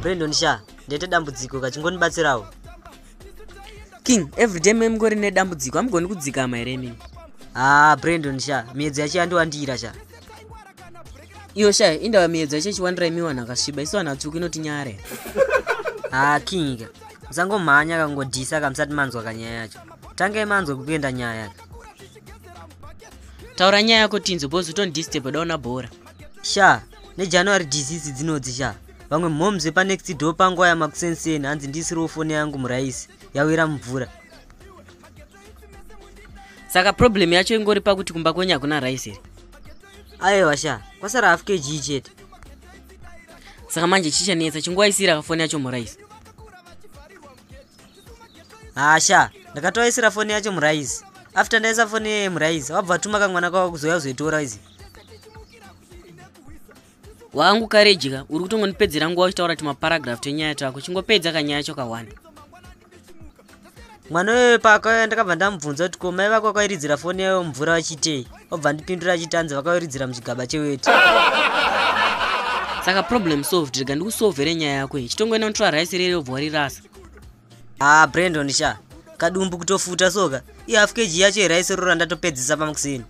brandon sha ndaita dambudziko kachingonibatsirawo king everyday memngori nedambudziko amugoni kudzikama here imimi haa ah, brandon sha miyedzo yacho yandiwandira sha iyo shaya indava miedzo yacho ichiwanira imi vanhu akasviba isu vanhu vatsvuku inotinyare haa ah, kinga musangomhanya kangodhisa kamusati manzwa kanyaya yacho tangai manzwa kukuenda nyaya yacho taura nyaya yako tinzo bos utondistep daona bhora sha nejanuary disease dzinodzi sha vamwe mhoms vepanext do panguva yamakusenseni hanzi ndisiriwo foni yangu muraisi yawira mumvura saka problem yacho ingori pakuti kumba kwenyu hakuna rice here aiwa sha kwasara half kg chete saka manje chichanetsa chingoaisira kafoni yacho muraisi hasha ndakatoaisira foni yacho muraisi after ndaisa foni yeye muraisi wabva tuma kamwana kwava kuzoya kuzoitora izi wangu karedya uri kutongonipedzera nguva uchitaura timaparagraf twenyaya twako chingopedza kanyaya chokahwana mwana uyoyo paakauya ndakabva ndamubvunza kuti ko mai vako vakairidzira foni yayo mvura vachitei obva ndipindura achitanzi vakairidzira muchigaba cheweti saka problem solved rega ndikusolvere nyaya yako iyi chitongoenda kutora raisi rere obva warirasa ah brandon sha kadumbu kutofuta soka ihalf kg yacho here aisorora ndatopedzisa pamukusini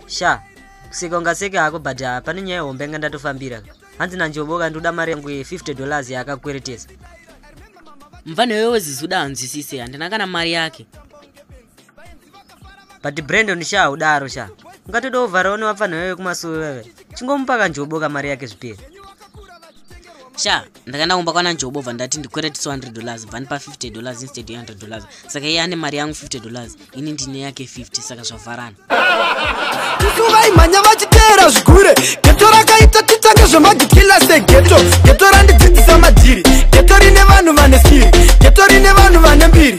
sha kuseka ungaseke hako but ah, pane nyaya hombe yanga ndatofambira hanzi nanjoboka ndoda mari yangu ye50 dollars yaakakweretesa mvana iwewe zizuda hanzwisise handina kana mari yake but brandon sha haudaro sha ungatoda kuvharawo nevapfanha veve kumasuvi veve chingomupa kanjoboka mari yake zvipere sha ndakaenda kumba kwana njobo bva ndati ndikwere 200 dollars bva ndipa 50 dollars instead 100 dollars saka iye ane mari yangu 50 dollars ini ndine yake 50 saka zvavharana vaimhanya vachiteera zvikure geto rakaita titange zvemagikila segeto geto randidzidzisa madhiri geto rine vanhu vane siri geto rine vanhu vane mbiri